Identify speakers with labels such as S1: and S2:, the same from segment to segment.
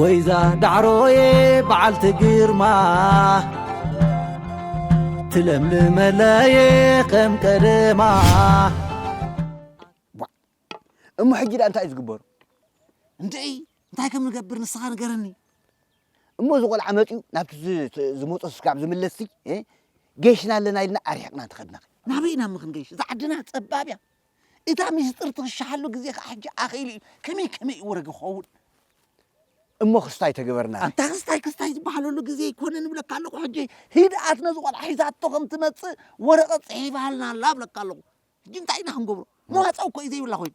S1: ወይዛ ዳዕሮየ በዓልቲ ግርማ ትለምልመለየ ከም ቀደማ
S2: እሞ ሕጂ ደኣ እንታይ እዩ ዝግበሩ እንድዒ
S3: እንታይ ከም ንገብር ንስኻ ንገረኒ እሞ እዚ
S2: ቆልዓ መፅኡ ናብቲ ዝመፆ ስጋብ ዝምለስ ጌሽና ኣለና ኢልና ኣርሒቕና እንተኸድና ናበይ ኢና እሞ ክንገይሽ
S3: እዛ ዓድና ፀባብ እያ እታ ሚስጥር ትኽሸሓሉ ግዜ ከኣ ሕጂ ኣኺሉ እዩ። ከመይ ከመይ እዩ ወረ ክኸውን?
S2: እሞ ክስታይ ተግበርና። ኣንታ ክስታይ ክስታይ
S3: ዝበሃለሉ ግዜ ኣይኮነን እብለካ ኣለኹ ሕጂ። ህድኣት ነዚ ቆልዓ ሒዛቶ ከም ትመጽእ ወረቐት ጽሒፋልና ኣላ እብለካ ኣለኹ። ሕጂ እንታይ ኢና ክንገብሮ? መዋጽኦ እኮ እዩ ዘይብላ ኮይኑ።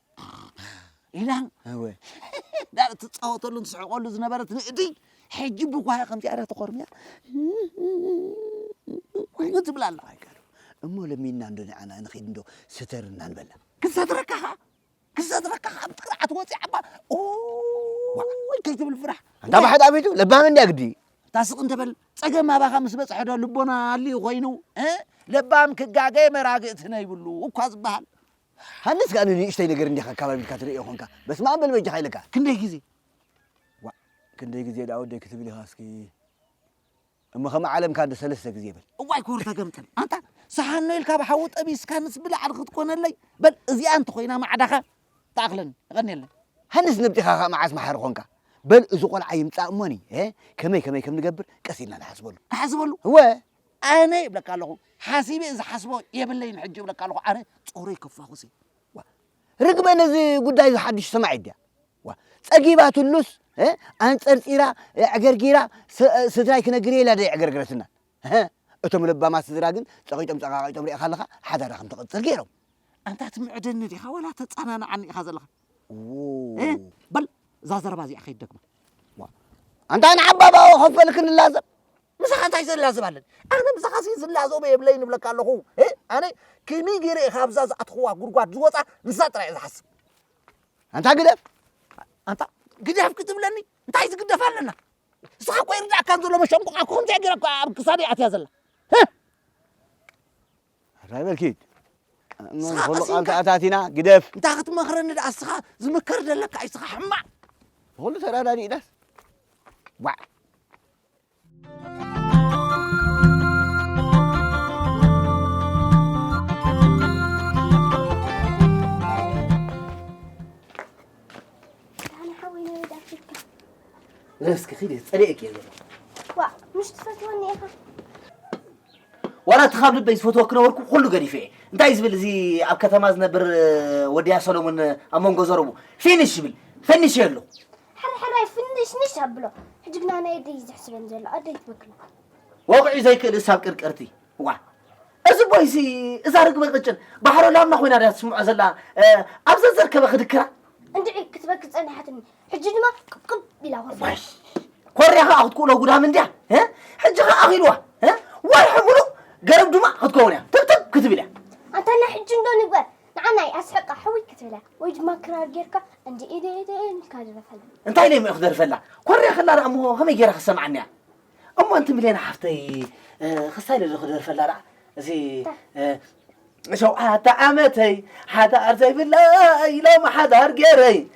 S3: ኢላን
S2: ዳር
S3: ትፃወተሉን ትስሕቀሉ ዝነበረት ንእዲ ሕጂ ብጓያ ከምዚ ኣረ ተኾርሚያ ኮይኑ ትብል ኣላ እሞ ለሚና
S2: እንዶ ንዓና ንኸይድ እንዶ ስተርና ንበላ ክሰትረካ ኸዓ
S3: ክሰትረካ ኸዓ ብጥርዓት ወፂ ዓባ ወይ ከይትብል ፍራሕ እንዳ ባሕዳ ቤቱ
S2: ለባም እንዲያ ግዲ ታስቕ እንተበል
S3: ፀገም ኣባኻ ምስ በፅሐ ዶ ልቦና ኣልዩ ኮይኑ ለባም ክጋገ መራግእቲ ነይብሉ እኳ ዝበሃል ሃንስ ከኣ
S2: ንንእሽተይ ነገር እንዲኻ ኣካባቢትካ ትርእዮ ኮንካ በስመኣም በል በጃኻ ኢለካ ክንደይ ግዜ
S3: ዋእ
S2: ክንደይ ግዜ ደኣ ወደይ ክትብል ኢኻ እስኪ እሞ ከም ዓለምካ እንዶ ሰለስተ ግዜ በል። እዋይ ኮርተ ገምጠል
S3: ኣንታ ሰሓኖ ኢልካ ብሓዊ ጠቢስካ ምስ ብላዕሊ ክትኮነለይ በል እዚኣ እንተኾይና ማዕዳኻ ትኣኽለኒ የቐንየለይ። ሃንስ ነብጢኻ ከኣ
S2: መዓስ መሓሪ ኮንካ በል እዚ ቆልዓ ይምጻእ እሞኒ ከመይ ከመይ ከም ንገብር ቀስ ኢልና ንሓስበሉ። ንሓስበሉ እወ ኣነ ይብለካ
S3: ኣለኹ ሓሲበ ዝሓስቦ የብለይን ሕጂ ይብለካ ኣለኹ ኣነ ጾረይ ከፋኹሲ ዋ ርግበ
S2: ነዚ ጉዳይ እዚ ሓድሽ ሰማዒት ድያ ዋ ጸጊባትሉስ ኣንጸርጺራ ዕገርጊራ ስድራይ ክነግር ኢላ ደይ ዕገርግረትና እቶም ለባማት ስድራ ግን ጸቂጦም ጸቃቂጦም ሪእኻ ኣለኻ ሓዳራ ከም ትቕጽል ገይሮም ኣንታ
S3: ትምዕደኒ ዲኻ ወላ ተጸናንዓኒ ኢኻ ዘለኻ በል እዛ ዘረባ እዚኣ ከይትደግማ ኣንታ
S2: ንዓባባ ከፈልክን ላዘብ ምሳኻ እንታይ
S3: ዘላዝብ ኣለኒ ኣነ ምሳኻ ሲ ዝላዘቦ የብለይን እብለካ ኣለኹ እ? ኣነ ከመይ ገይረ እየ ካብዛ ዝኣትኽዋ ጉድጓድ ዝወፃ ንሳ ጥራይ እየ ዝሓስብ ኣንታ
S2: ግደፍ ኣንታ
S3: ግደፍ ክትብለኒ እንታይ ዝግደፍ ኣለና ንስኻ እኮ ይርዳእካ ዘሎ መሸንቆቃ እኮ ከምዚኣ ገይራ እኮ ኣብ ክሳደይ ኣትያ
S2: ዘላ እ? እንታይ በል ኪድ
S3: ንስኻ
S2: ንኹሉ ቃል ቀሲንካ- ተኣታቲና ግደፍ እንታይ ክትመኽረኒ ደኣ
S3: ንስኻ ዝምከር ዘለካ እዩ ንስኻ ሕማቕ ንኹሉ
S2: ተረዳዲእናስ ዋዕ
S4: እስኪ
S1: ኪድ ፀሪእክ እየ ዘሎ ዋ ምሽ
S4: ትፈትወኒ ኢኻ
S1: ዋላ እቲ ካብ ልበይ ዝፈትዎ ክነበርኩ ኩሉ ገዲፈ እየ እንታይ እዩ ዝብል እዚ ኣብ ከተማ ዝነብር ወድያ ሰሎሞን ኣብ መንጎ ዘረቡ ፊኒሽ ይብል ፈኒሽ ኣሎ ሕርሕራይ
S4: ፍንሽንሽ ኣብሎ ሕጂ ግና ናይ ኣደይ ዝሕስበን ዘሎ ኣደይ ትበክላ ወቕዒ
S1: ዘይክእል እሳብ ቅርቅርቲ ዋ እዚ ቦይሲ እዛ ርግበ ቅጭን ባሕሮ ላምና ኮይና ድያ ትስምዖ ዘላ ኣብ ዘዘርከበ ክድክራ እንድዒ ክትበክ
S4: ጸኒሓትኒ ሕጂ ድማ ቅብቅብ ኢላ ኮርያ ኮርያ ከዓ
S1: ክትክእሎ ጉዳም እንድያ ሕጂ ከዓ ኣኺልዋ ወርሒ ሙሉእ ገረብ ድማ ክትከውን እያ ትብትብ ክትብል እያ ኣንታና ሕጂ እንዶ
S4: ንግበር ንዓናይ ኣስሕቃ ሕውይ ክትብላ ወይ ድማ ክራር ጌርካ እንዲ ኢደ ኢደ ኢልካ ድረፈላ እንታይ ኢለ እሞ ክደርፈላ
S1: ኮርያ ከላ ደኣ እሞ ከመይ ጌራ ክሰምዓኒ እያ እሞ ኣንቲ ሚልዮን ሓፍተይ ክሳይ ልዶ ክደርፈላ ደኣ እዚ ሸውዓተ ዓመተይ ሓዳር ዘይብለይ ሎም ሓዳር ጌረይ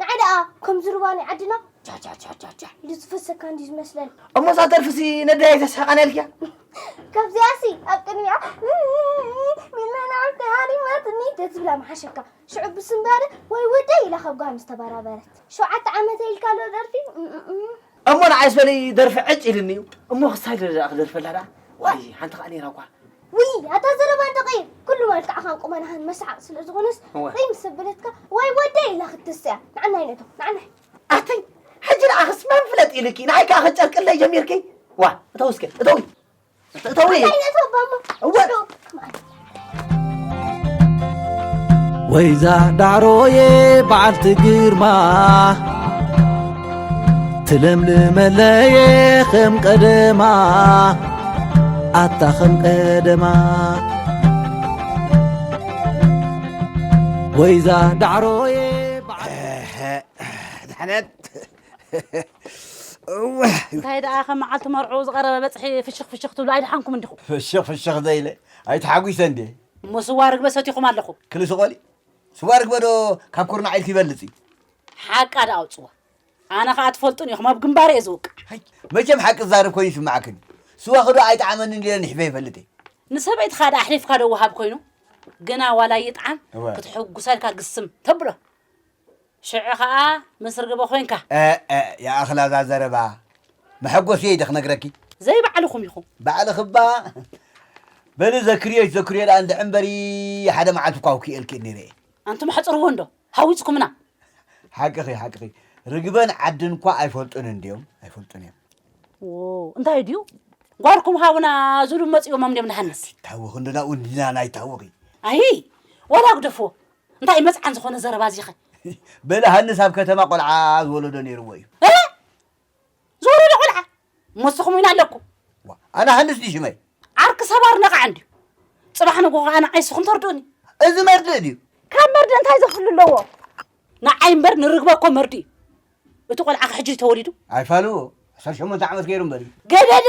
S4: ንዓይ ደኣ ከምዚ ሩባ ናይ ዓድና ጃጃጃጃጃ ኢሉ ዝፈሰካ እንድዩ ዝመስለኒ። እሞ እዛ ደርፍሲ
S1: ነዳይ ተስሕቐነልኪያ ካብዚኣሲ
S4: ኣብ ቅድሚኣ ሚልና ንዓይ ተሃሪማትኒ ተትብላ ምሓሸካ። ሽዑ ብስንባደ ወይ ወደይ ኢላ ካብ ጓል ምስ ተበራበረት ሸውዓተ ዓመተይ ኢልካ ኣሎ ደርፊ እሞ
S1: ንዓይስ በለይ ደርፊ ዕጭ ኢልኒ እዩ እሞ ክሳይ ደረጃ ክደርፈላ ደኣ ዋይ ሓንቲ ከኣ ነይራ እኳ ውይ ኣታ
S4: ዘረባ ደቒ ኩሉ መልክዕኻን ቁመናኻን መስሓቕ ስለ ዝኾነስ ወይ ምስ ኣበለትካ ወይ ወደይ ኢላ ክትስያ ንዓናይ ነቶ ንዓናይ ኣተይ
S1: ሕጂ ንዓኽስ መን ፍለጥ ኢሉኪ ንዓይ ከዓ ከጨርቅለይ ጀሚርኪ ዋ እተው እስከ እተው እተው ወይዛ ዳዕሮዬ በዓልቲ ግርማ ትለምልመለየ ከም ቀደማ ኣታ ከም ቀደማ ወይዛ ዳዕሮየ
S2: ድሕነት
S5: እንታይ ደኣ ከም መዓልቲ መርዑ ዝቐረበ በፅሒ ፍሽኽ ፍሽኽ ትብሉ ኣይደሓንኩም እንዲኹም ፍሽኽ ፍሽኽ ዘይለ
S2: ኣይተሓጒሰ እንዴ እሞ ስዋ ርግበ
S5: ሰቲኹም ኣለኹ ክሊ ስቆሊ
S2: ስዋ ርግበ ዶ ካብ ኩርናዕ ኢልቲ ይበልፅ እዩ ሓቃ
S5: ደኣ ኣውፅዋ ኣነ ከዓ ትፈልጡን ኢኹም ኣብ ግንባር እየ ዝውቃዕ ሃይ መቸም ሓቂ
S2: ዝዛረብ ኮይኑ ይስማዓክን እዩ ስዋኺ ዶ ኣይጠዓመንን ኢለ ንሕበ ይፈልጥ እየ ንሰበይትኻ ደኣ
S5: ኣሕሊፍካ ዶ ወሃብ ኮይኑ ግና ዋላ ይጥዓም እወ። ክትሕጉሰልካ ግስም ተብሎ ሽዑ ከዓ ምስ ርግበ ኮይንካ እ እ ይኣኽላ
S2: እዛ ዘረባ መሐጎሲ እየ ደ ክነግረኪ ዘይባዕልኹም
S5: ኢኹም ባዕልኺ እባ
S2: በሊ ዘክርዮሽ ዘክርዮ ደኣ እንድሕር እምበሪ ሓደ መዓልቲ እኳ ኣውኪኤልኪ እየ ነይረ እየ ኣንቱም ኣሕፅርዎ
S5: እንዶ ሃዊጽኩምና። ሓቅኺ ሓቅኺ
S2: ርግበን ዓድን እኳ ኣይፈልጡን እንድዮም ኣይፈልጡን እዮም ዎው
S5: እንታይ ድዩ ጓልኩም ሃቡና ዝብሉ መፅኦሞም እንድዮም ንሃንስ ታወኺ እንድና እውን እንድና
S2: ናይ ታወኺ ኣይ
S5: ዋላ ግደፍዎ እንታይ እዩ መፅዓን ዝኾነ ዘረባ እዚኸ በለ ሃንስ
S2: ኣብ ከተማ ቆልዓ ዝወለዶ ነይርዎ እዩ
S5: ዝወረደ ቆልዓ ሞስኹም ዊን ኣለኩም ኣነ ሃንስ
S2: ድዩ ሽመይ ዓርኪ ሰባር
S5: ነቓዕ እንድዩ ፅባሕ ንግሆ ከዓ ንዓይ ስኹም ተርድኡኒ እዚ መርድእ ድዩ
S2: ካብ መርድእ እንታይ
S5: ዘፍሉ ኣለዎ ንዓይ እምበር ንርግበ እኮ መርድእ እዩ እቲ ቆልዓ ሕጂ ተወሊዱ ኣይፋሉ ዓሰርተ
S2: ሸሞንተ ዓመት ገይሩ እምበር ገደደ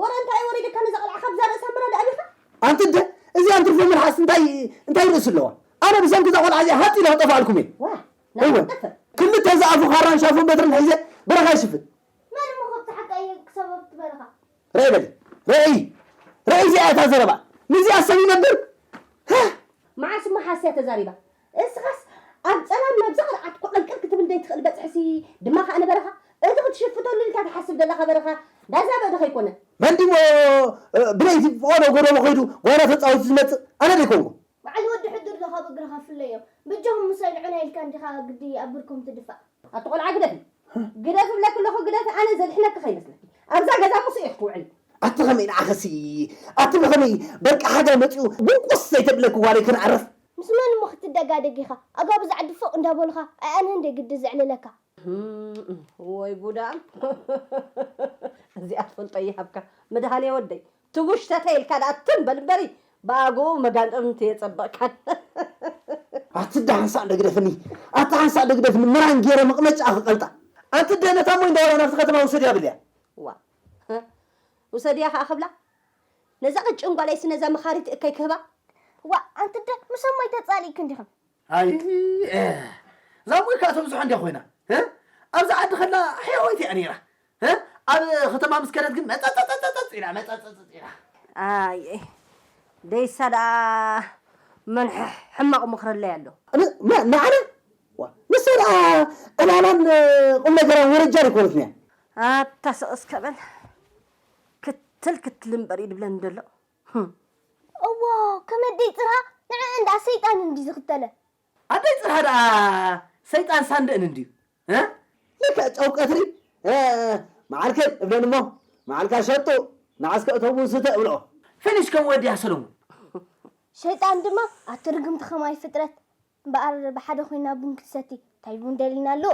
S5: ወረ እንታይ እዩ ወሪዱካ ነዛ ቆልዓ ካብዛ ርእሳ ምራድ ኣቢኻ። ኣንቲ ኣደ
S1: እዚኣ እንትርፎ መልሓስ እንታይ እንታይ ርእሲ ኣለዋ ኣነ ብሰንኪ እዛ ቆልዓ እዚኣ ሃጥ ኢለ ክጠፍኣልኩም እየ ዋእ ናይ እወ ክትጠፍእ ክልተ እዚ ኣፉ ካራን ሻፎን በትርን ሒዘ በረኻ ይሽፍን መን እሞ ከብቲ
S4: ሓቂ ኣየ ክሳብ ኣብቲ በረኻ። ርኣይ በሊ
S1: ርኣይ ርኣይ እዚኣ እያ እታ ዘረባ ምስዚኣ ሰብ ይነብር ሃህ።
S5: መዓስ እሞ ሓስያ ተዛሪባ እስኻስ ኣብ ጸላም ናብ ዘቕርዓት ኮቐንቀል ክትብል ዘይትኽእል በጽሕሲ ድማ ከኣ ንበረኻ እቲ ክትሽፍተሉ ኢልካ ትሓስብ ዘለኻ በረኻ ዳዛበእ ዶ ከይኮነ? መንዲሞ
S1: ብለይቲ ብቆሎ ጎደቦ
S4: ከይዱ
S1: ጓና
S4: ተጻዊቱ
S1: ዝመጽእ ኣነ
S4: ደይኮንኩ? በዓል
S1: ወዲ ሕዱር
S4: ዶ ካብ
S1: እግርኻ
S4: ፍለዮ።
S1: በጃኹም ምሳይ
S4: ንዑና ኢልካ እንዲኻ ግዲ ኣብ ብርኮም ትድፋእ። ኣቲ ቆልዓ ግደፊ
S5: ግደፊ እብለኪ ኣለኹ ግደፊ ኣነ ዘድሕነኪ ከይመስለኪ ኣብዛ ገዛ ሙስእ ኢኺ ትውዕሊ። ኣቲ ከመይ ንዓኽሲ
S1: ኣቲ ብኸመይ በቃ ሓጋይ መጺኡ ጉንቁስ ዘይተብለኪ ጓለይ ክንዕርፍ ምስ መን እሞ
S4: ክትደጋደግ ኢኻ ኣጋብ እዛ ዓዲ ፎእ እንዳበሉኻ ኣይኣንህን ድየ ግዲ ዘዕልለካ። ህም
S5: ወይ ጉድ ኣም እዚኣ ትፈልጦ ይሃብካ መድሃኔ ወደይ ትጉሽ ተተ ኢልካ ደኣ ትም በል እምበሪ ብኣግኡ መጋንጥርምት የጸበቅካን።
S1: ኣቲ እዳ ሓንሳእ ደግደፍኒ ኣቲ ሓንሳእ ደግደፍኒ ምራን ጌረ መቅመጫኣ ክቀልጣ ኣቲ እደ ነታ ሞይ እንዳ ወላ ናብቲ ከተማ ውሰድያ ብልያ።
S5: ዋእ ህእ ውሰድያ ከኣ ክብላ ነዛ ቅጭን ጓለይሲ ነዛ መኻሪት እከይ ክህባ? ዋእ ኣንቲ ኣደ
S4: ምሶም ሞይ ተጻሊእክን ዲኽን? ኣይይይ
S1: እዛ ሞይ ከኣ ተብዝሖ እንድያ ኮይና ህ ኣብዛ ዓዲ ከላ ሕያወይቲ እያ ነይራ ህ ኣብ ኸተማ ምስ ከደት ግን መጸጸጸጸጸጽ ኢላ መጸጸጸጽ ኢላ።
S5: ኣይይ ደይሳ ደኣ መን ሕማቕ ምኽሪ ኣለይ ኣሎ። ን መን ንዓና
S1: ዋእ ንሳ ደኣ ዕላላን ቁምነገራን ወረጃን ኣይኮነትን እያ። ኣታ ስቕ እስከ
S5: በል ክትል ክትል እምበር እዩ ድብለኒ ደሎ ህም።
S4: እዎ ከም ኣደይ ጽርሃ ንዕእን ድኣ ሰይጣን እንድዩ ዝኽተለ። ኣደይ ጽርሃ
S1: ድኣ ሰይጣን ሳንድእን እንድዩ እ። ልክዕ ጨው ቀትሪ እ መዓልክን እብለን እሞ መዓልካ ሸጡ ንዓስከ እቶም ውን ስተ እብልኦ። ፊኒሽ ከም ወድያ ሰለሙን።
S4: ሸይጣን ድማ ኣቲ ርግምቲ ከማይ ፍጥረት እምበኣር ብሓደ ኮይና ቡን ክትሰቲ ታይ ቡን ደሊና ኣሎ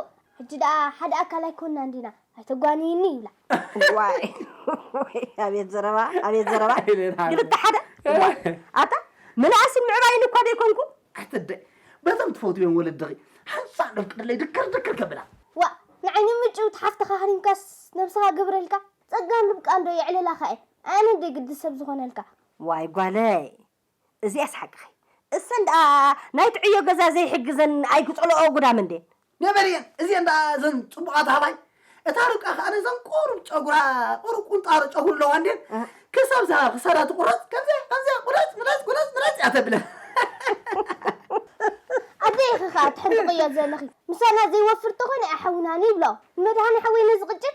S4: ሕጂ ደኣ ሓደ ኣካል ኣይኮናን ዲና ኣይተጓንይኒ ይብላ። ዋይ ዋይ
S5: ኣቤት ዘረባ ኣቤት ዘረባ ክልተ ሓደ ዋይ ኣታ ምንኣስን ምዕባይን እኳ ደይኮንኩ። ኣተደይ
S1: በዞም ትፈትውዮም ወለድኺ ሓንሳእ ነፍቅደለይ ድክር ድክር ከብላ። ዋእ ንዓይኒ
S4: ምጭውቲ ሓፍትኻ ሃሪምካስ ነብስኻ ግብረልካ ጸጋን ርብቃን ዶ የዕልላኻ እየን ኣየነን ደይ ግዲ ሰብ ዝኾነልካ። ዋይ ጓለይ
S5: እዚኣስ ሓቅኺ እሰን ድኣ ናይቲ ዕዮ ገዛ ዘይሕግዘን ኣይክጸልኦኦ ጉዳም እንዴን። ገበል እየን እዚኤን
S1: ደኣ እዘን ጽቡቃት ኣህባይ እታ ርብቃ ከኣ ነዘን ቁሩብ ጨጉራ ቁሩብ ቁንጣሮ ጨጉሪ ኣለዋ እንዴን ክሳብ እዛ ክሳዳ ትቁረጽ ከምዚኣ ከምዚኣ ቁረጽ ምረጽ ቁረጽ ምረጽ እያ ተብለን።
S4: ኣበይ ኢኺ ከኣ ትሕንጥቕዮ ዘለኺ ምሳና ዘይወፍር ተኾይኑ እያ ሓውናን ይብሎ ንመድሃኔ ሓወይ ነዚ ቅጭን።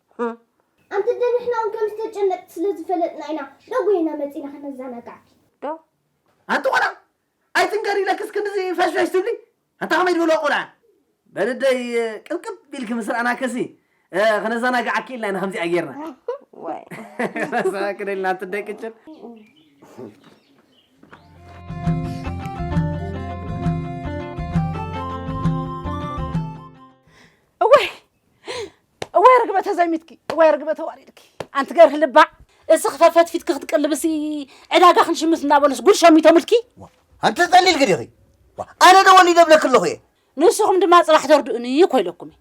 S5: ሑም።
S4: ኣንቲ ኣደ ንሕና ውን ከምዝተጨነቅኪ ስለ ዝፈለጥና ኢና ዶ ጎይና መጺና ከነዛናጋዕኪ። ዶ።
S5: ኣንቲ
S1: ቆልዓ ኣይትንገሪ ኢለክስ ክንድዚ ፈሽፈሽ ትብሊ ኣንታ ከመይ ድበልዋ ቆልዓ። በሊ ኣደይ ቅብቅብ ኢልኪ ምስ ረኣናክሲ ከነዛናጋዓኪ ኢልና ኢና ከምዚኣ ጌርና።
S5: ዋይ።
S1: ክደልና ኣንቲ ኣደይ ቅጭን።
S6: እዋይ እዋይ ርግበ ተዘሚትኪ እዋይ ርግበ ተዋሪድኪ ኣንቲ ገርህ ልባዕ እስኺ ፈፈትፊትኪ ክትቅልብሲ ዕዳጋ ክንሽምት እናበሉስ ጉድ ሸሚቶምልኪ ኣንቲ ጸሊልኪ
S2: ዲኺ ኣነ ዶ ወሊደ ብለኪ ኣለኹ እየ ንስኹም ድማ ጽባሕ
S6: ተርድኡኒ እኮ ኢለኩም እየ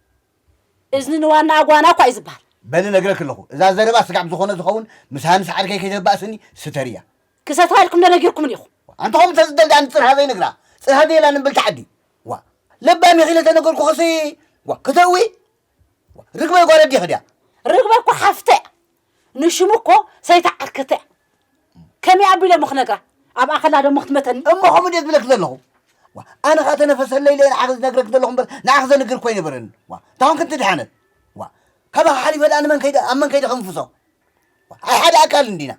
S6: እዝኒ ንዋናኣ ጓና እኳ እዩ ዝበሃል በሊ ነግረኪ ኣለኹ
S2: እዛ ዘረባ ስጋብ ዝኾነ ዝኸውን ምስ ሃንስ ዓርከይ ከይተባእስኒ ስተርያ ክሰትራ ኢልኩም ዶ
S6: ነጊርኩምን ኢኹም ኣንቲ ከምኡ ተዝደል
S2: ድኣ ንጽርሃ ዘይነግራ ጽርሃ ዘየላ ንብልቲ ዓዲ ዋ ለባም ኢኺ ኢለ ተነገርኩ ኸሲ ዋ ክተእዊ ርግበይ ጓል ኣዴኺ ድያ? ርግበ እኮ ሓፍተይ
S6: እያ ንሽሙ እኮ ሰይቲ ዓርከተ እያ ከመይ ኣቢለ እሞ ክነግራ ኣብኣ ከላ ደሞ ክትመተኒ እሞ ከምኡ ድየ ዝብለኪ
S2: ዘለኹ ዋ ኣነ ኸኣ ተነፈሰለይ ኢለ ንዓኺ ዝነግረኪ ዘለኹ እምበር ንዓኺ ዘንግር እኮ ኣይነበረኒ ዋ እንታ ኮንኪ እንትድሓነት ዋ ካባኺ ሓሊፈ ድኣ ንመን ከይደ ኣብ መን ከይደ ክንፍሶ ኣይ ሓደ ኣካል እንዲና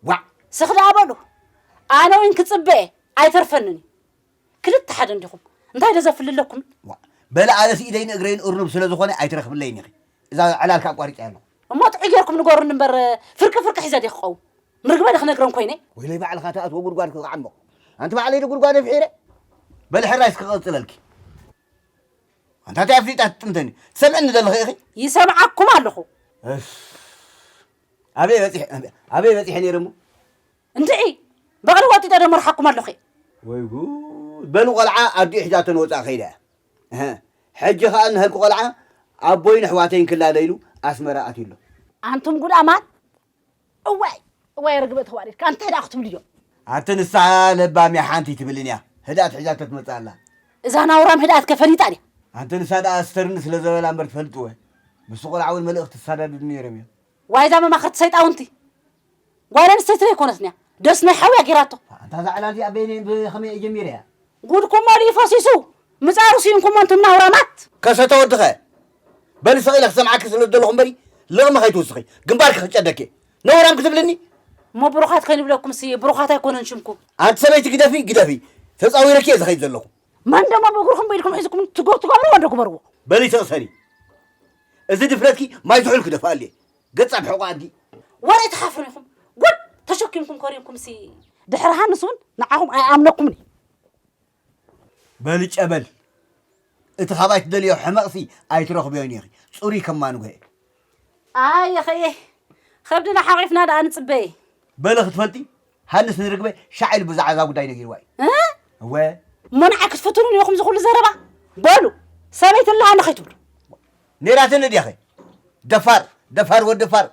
S2: ዋዕ ስኽ
S6: ደኣ በሉ ኣነ እውን ክፅበ እየ ኣይተርፈንን እዩ ክልተ ሓደ እንዲኹም እንታይ ዶ ዘፍልለኩም? ዋእ በለ ኣነስ
S2: ኢደይን እግረይን እርኑብ ስለ ዝኾነ ኣይትረኽብለይን ኢኺ እዛ ዕላል ከ ኣቋሪጸያ ኣለኹ። እሞ ጥዑይ ጌርኩም
S6: ንገሩኒ እምበር ፍርቂ ፍርቂ ሒዘ ድየ ክቀውም? ምርግበ ዶ ክነግረን ኮይነ? ወይለይ ባዕልኻ ትኣትዎ
S2: ጉድጓድ ከ ክዓምቕ ኣንቲ ባዕለይ ዶ ጉድጓደ ፍሒረ በሊ ሕራይ እስከ ክቕጽለልኪ ኣንታ እንታይ ኣፍሊጣ ትጥምተኒ ትሰምዕኒ ዘለኺ ኢኺ ይሰምዓኩም ኣለኹ።
S6: እፍ ኣበይ
S2: በጺሐ ኣበይ በጺሐ ነይረ እሞ እንድዒ
S6: በቕሊ ወጢጠ ዶ መርሓኩም ኣለኹ። ወይ ጉድ
S2: በሉ ቆልዓ ኣዲኡ ሒዛቶ ንወጻኢ ከይዳ እያ እህ ሕጂ ከኣ ንሀልኩ ቆልዓ ኣቦይን ኣሕዋተይን ክላለ ኢሉ ኣስመራ ኣትዩ ኣሎ። ኣንቱም ጉዳማት
S6: እዋይ እዋይ ርግበ ተዋሪድካ እንታይ ደኣ ክትብሉ እዮም። ኣቲ ንሳ
S2: ለባም እያ ሓንቲ ኣይትብልን እያ ህድኣት ሒዛቶ ትመጽእ ኣላ። እዛ ናውራም
S6: ህድኣት ከ ፈሊጣ ድያ። ኣንቲ ንሳ ደኣ
S2: ስተርኒ ስለ ዘበላ እምበር ትፈልጥወ ምስቲ ቆልዓ ውን መልእኽቲ ዝሳዳድዱ ነይሮም እዮም። ዋይ እዛ
S6: መማክርቲ ሰይጣውንቲ ጓል ኣንስተይቲ ዶ ኣይኮነትን እያ ደስ ናይ ሓውያ ጌራቶ። ኣንታ እዛ ዕላል እዚኣ
S2: በየነይን ብኸመይን ጀሚረያ። ጉድኩም መሊኡ
S6: ፈሲሱ ምጻሩ ሲኢንኩሞ ኣንቱም ናውራማት። ከሰተ ወድኸ
S2: በሊ ስቕ ኢለ ክሰምዓኪ ስለ ዝደለኹ እምበሪ ልቕሚ ከይትውስኺ ግንባርኪ ክጨደኪ እየ ነውራም ክትብልኒ እሞ ብሩኻት
S6: ከይንብለኩምሲ ብሩኻት ኣይኮነን ሽምኩም። ኣንቲ ሰበይቲ ግደፊ
S2: ግደፊ ተጻዊረኪ እየ ዝኸይድ ዘለኹ። መን ደሞ ብእግርኹም
S6: ብኢድኩም ሒዝኩም ትጎ ትገብርዎ እንዶ ግበርዎ በሊ ተቕሰኒ
S2: እዚ ድፍረትኪ ማይ ዝሑል ክደፍኣሉ እየ ገጻ ብሕቑ ኣድጊ ወረ ትሓፍሩ
S6: ኢኹም ጉድ ተሸኪምኩም ኮሪንኩም ሲ ድሕሪ ሃንስ እውን ንዓኹም ኣይኣምነኩምን እዩ
S2: በሊ ጨበል እቲ ካባይ ትደልዮ ሕመቕሲ ኣይትረኽብዮን ኢኺ ፅሩይ ከማንጎ እየ ኣየ
S6: ኸየ ኸብድና ሓቂፍና ደኣ ንፅበየ በለ ክትፈልጢ
S2: ሃንስ ንርግበ ሻዕ ኢሉ ብዛዕባ እዛ ጉዳይ ነጊርዋ እዩ። እህ! እወ እሞ ንዓይ
S6: ክትፍትኑኒ ኢኹም እዚ ኩሉ ዘረባ? በሉ ሰበይቲ ኣለሃኒ ከይትብሉ። ነይራትኒ
S2: ድያኸ? ደፋር ደፋር ወዲ ፋር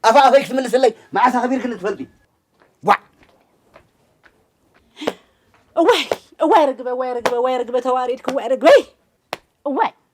S2: ኣፋ ኣፈይ ክትምልስለይ መዓስ ኣኽቢርክኒ ትፈልጢ? ዋዕ! እዋይ
S6: እዋይ ርግበ እዋይ ርግበ እዋይ ርግበ ተዋሪድኪ እዋይ ርግበይ እዋይ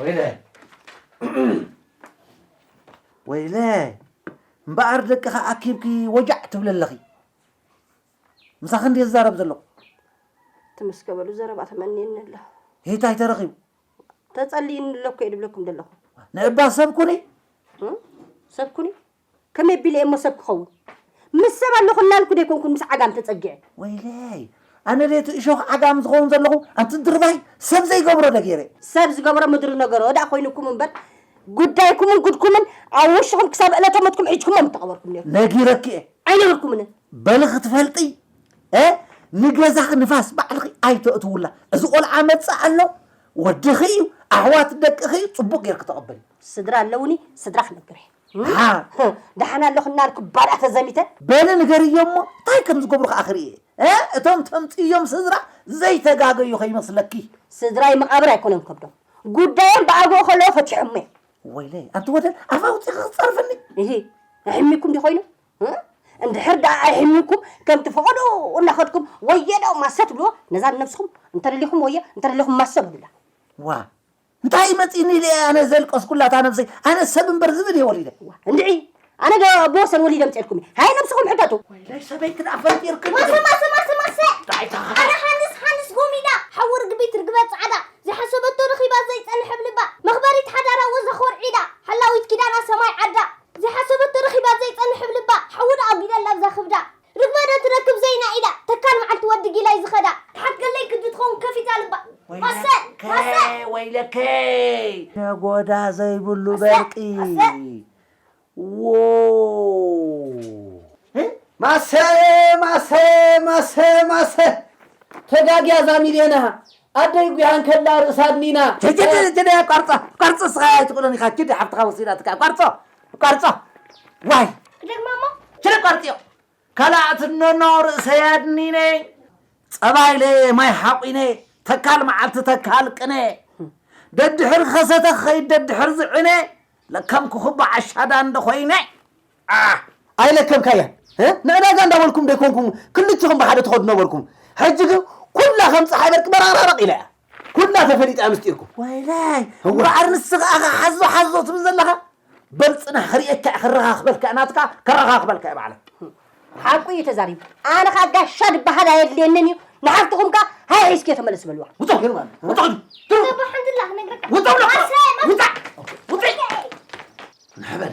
S1: ወይለይ ወይለይ እምበኣር ደቅኻ ኣኪብኪ ወጃዕ ትብሊ ኣለኺ ምሳኺ እንድየ ዝዛረብ ዘለኹ
S5: ትምስገበሉ ዘረባ ተመንየኒ ኣሎ ሄታይ ተረኺቡ
S1: ተጸልይኒ
S5: ኣሎ እኮ እየ ድብለኩም ዘለኹ ንዕባ ሰብ ኩኒ ሰብ ኩኒ ከመይ ኣቢለ እየ'ሞ ሰብ ክኸውን? ምስ ሰብ ኣለኹ እናልኩ ዶ ኣይኮንኩን ምስ ዓጋም ተጸጊዐ? ወይለይ!
S1: ኣነ ድየ'ቲ እሾኽ ዓጋም ዝኸውን ዘለኹ? ኣንቲ ድርባይ! ሰብ ዘይገብሮ ዶ ገይረ? ሰብ ዝገብሮ ምድሪ
S5: ነገሮ ደኣ ኮይኑኩም እምበር፣ ጉዳይኩምን ጉድኩምን ኣብ ውሽጥኹም ክሳብ ዕለተ ሞትኩም ሒጅኩሞ ምተቐበርኩም ኔርኩም። ነጊረኪ እየ!
S1: ኣይነበርኩምን!
S5: በሊ ክትፈልጢ
S1: እ ንገዛኺ ንፋስ ባዕልኺ ኣይተእትውላ። እዚ ቆልዓ መጽእ ኣሎ፣ ወድኺ እዩ፣ ኣሕዋት ደቅኺ እዩ፣ ጽቡቕ ጌርኪ ተቐበሊ። ስድራ ኣለውኒ፣
S5: ስድራ ክነግር እየ።
S1: ደሓን ኣለኹ
S5: እናልኩ ባልኣ ተዘሚተ። በሊ ንገርዮም
S1: እሞ ታይ ከም ዝገብሩ ከኣ ክርኢ እየ። እቶም ተምጽእዮም ስድራ ዘይተጋገዩ ከይመስለኪ። ስድራይ መቓብር
S5: ኣይኮነን ከብዶም። ጉዳዮም ብኣግኡ ከለዉ ፈቲሖሞ እየ። ወይለይ ኣንቲ ወደል
S1: ኣፍ ኣውጺኺ ክትጸርፍኒ። እሂ
S5: ኣሕሚኩም ድዩ ኮይኑ? እንድሕር ደኣ ኣይሕሚኩም ከምቲ ፈቐድኡ እናኸድኩም ወየ'ዶ ማሰ ትብልዎ ነዛ ንነብስኹም እንተደሊኹም ወየ እንተደሊኹም ማሰ በሉላ። ዋእ
S1: እንታይ መጺኒ ኢለ እየ ኣነ ዘልቀስኩላ እታ ነብሰይ ኣነ ሰብ እምበር ዝብኢ ድየ ወሊደ። እዋ እንድዒ
S5: ኣነ ዶ ኣቦ ወሰን ወሊደ ኣምጺኤልኩም እየ ሃየ ነብስኹም ሕተቱ። ወይለይ ሰበይ ክድኣ
S1: ፈጢርክን ማሰ እንዴ። ማሰ ማሰ ማሰ
S4: ጥራይ ተኸኸ። ኣረ ሃንስ ሃንስ ጎሚዳ ሓዊ ርግቢት ርግበ ጻዕዳ ዘይሓሰበቶ ረኺባ ዘይጸንሐ ብ ልባ መኽበሪት ሓዳራ ወዛ ኾርዒዳ ሓላዊት ኪዳና ሰማይ ዓዳ ዘይሓሰበቶ ረኺባ ዘይጸንሕ ብ ልባ ሓዊ ደኣ ኣጒደላ ኣብዛ ክብዳ ርግበ ዶ ትረክብ ዘይና ኢዳ ተካል መዓልቲ ወዲ ጊላይ ዝኸዳ ትሓት ገለይ ክዲ ትኸውን ከፊታ ልባ ማሰ ማሰ
S1: ወይለከይ ነጎዳ ዘይብሉ በርቂ ዎው ማሰ ማሰ ማሰ ማሰ ተጋግያ እዛ ሚልዮን እሃ ኣደይ ጉያ እንከላ ርእሳ ኣድኒና። ችድ ችድ ችድ ችድ ኣቋርጾ ኣቋርጾ እስኻ ኣይትኽእሎን ኢኻ ችድ ሓፍትኻ ወሲዳትካ ኣቋርጾ ኣቋርጾ ዋይ ክደግማ እሞ
S4: ችድ ኣቋርጽዮ
S1: ካልኣ ትነኖ ርእሰይ ኣድኒነ ጸባ ኢለ ማይ ሓቑነ ተካል መዓልቲ ተካል ቅነ ደድሕሪ ከሰተ ክኸይድ ደድሕሪ ዝዕነ ለከም ክኹቦ ዓሻ ዳንደ ኮይነ ዓሕ ኣይለከብካያን ንዕዳጋ እንዳበልኩም ዶ ኣይኮንኩም ክልቲኹም ብሓደ ትኸዱ ነበርኩም ሕጂ ግን ኩላ ከም ፀሓይ በርቂ በራቕራቕ ኢላ እያ ኩላ ተፈሊጣ እያ ምስጢርኩም ወይለይ እምበኣር ንስኻ ኣኻ ሓዞ ሓዞ ትብል ዘለኻ በል ፅናሕ ክርእየካ እየ ከረኻኽበልካ ናትካ ከረኻኽበልካ እየ ባዕለይ ሓቁ እዩ
S5: ተዛሪቡ ኣነ ከዓ ጋሻ ድበሃል ኣየድልየንን እዩ ንሓፍትኹም ከዓ ሃይ ሒዝኪ ተመለስ በልዋ ውፆ ገይሩ
S1: ማለት
S4: እዩ። ውፆ ግዱ ውፆ ብሎ ውፃ
S1: ውፅዕ ንሕበል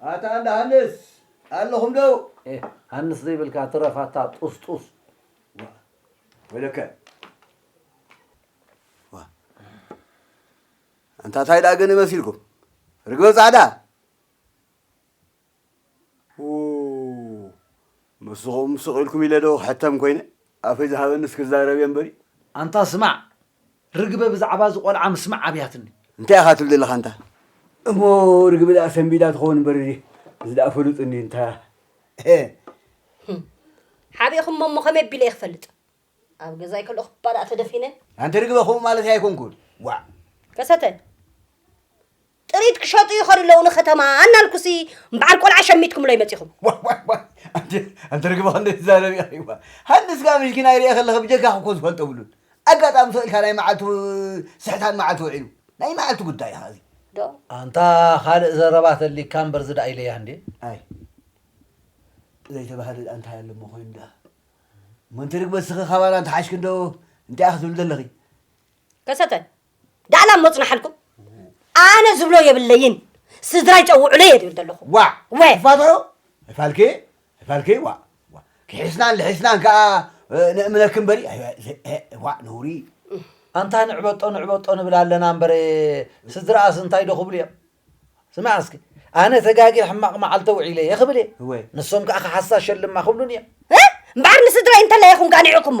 S2: ኣታ እንዳ ሃንስ ኣለኹም ዶ? ኤህ ሃንስ ዘይብልካ
S1: ትረፍ ኣታ ጡስጡስ። ዋእ ወይለከ
S2: ዋእ ኣንታ ታይ ደኣ ገለ መሲልኩም ርግበ ጻዕዳ ኡይ ንስኹም ስቕ ኢልኩም ኢለ ዶ ክሕተም ኮይነ ኣፈይ ዝሃበኒስ ክዛረብ እየ እምበሪ። ኣንታ ስማዕ
S7: ርግበ ብዛዕባ እዚ ቆልዓ ምስማዕ ኣብያትኒ። እንታይ ኢኻ ትብል ዘለኻ
S2: ኣንታ? እሞ ርግበ ደኣ ሰንቢዳ ትኸውን እምበር እዚ ደኣ ፍሉጥ እንድዩ እንታ እህ። ህም
S5: ሓቢእኹሞ እሞ ከመይ ኣቢለ እየ ክፈልጥ ኣብ ገዛይ ከለኹ እባ ደኣ ተደፊነ። ኣንቲ ርግበ ከምኡ
S2: ማለተይ ኣይኮንኩን ዋእ። ከሰተ።
S5: ጥሪት ክሸጡ ይኸዱ ኣለዉ ንከተማ እናልኩሲ በዓል ቆልዓ ሸሚትኩምሎ ይመፂኹም ዋይ ዋይ ዋይ ኣንተ
S2: ኣንተ ርግቢ ክንደይ ትዛረብ ኢኺ እባ ሃንስ ከኣ ምሽኪና ይርኤ ከለኺ ብጀካ ክኮ ዝፈልጦ ብሉን ኣጋጣሚ ተውኢልካ ናይ መዓልቱ ስሕታን መዓልቱ ውዒሉ ናይ መዓልቱ ጉዳይ ኢኻ እዚ ዶ ኣንታ
S7: ካልእ ዘረባ ተሊካ እምበር እዚ ደኣ ኢለያ እንዴ
S2: ኣይ ዘይተባህለ ደኣ እንታይ ኣሎ እሞ ኮይኑ ደኣ እሞ እንቲ ርግበ ስኺ ካባና እንተሓሽኪ እንዶ እንታይ ኢኺ ትብሊ ዘለኺ ከሰተ
S5: ዳኣ ላሞ ጽናሓልኩም ኣነ ዝብሎ የብለይን ስድራይ ጸውዑለ እየ ዝብል ዘለኹ ዋዕ ወ ፋተሮ
S2: ፋልኪ ፋልኪ ዋዕ ዋዕ ክሒስናን ልሒስናን ከዓ ንእምነክ እምበሪ ዋዕ ነውሪ ኣንታ
S7: ንዕበጦ ንዕበጦ ንብል ኣለና እምበር ስድራኣስ እንታይ ዶ ክብሉ እዮም ስማዕ እስኪ ኣነ ተጋጊ ሕማቕ መዓልተ ውዒለ እየ ክብል እየ ንሶም ከዓ ክሓሳ ሸልማ ክብሉን እዮም እምበዓር
S5: ንስድራይ እንተላይ ኢኹም ጋኒዕኩሞ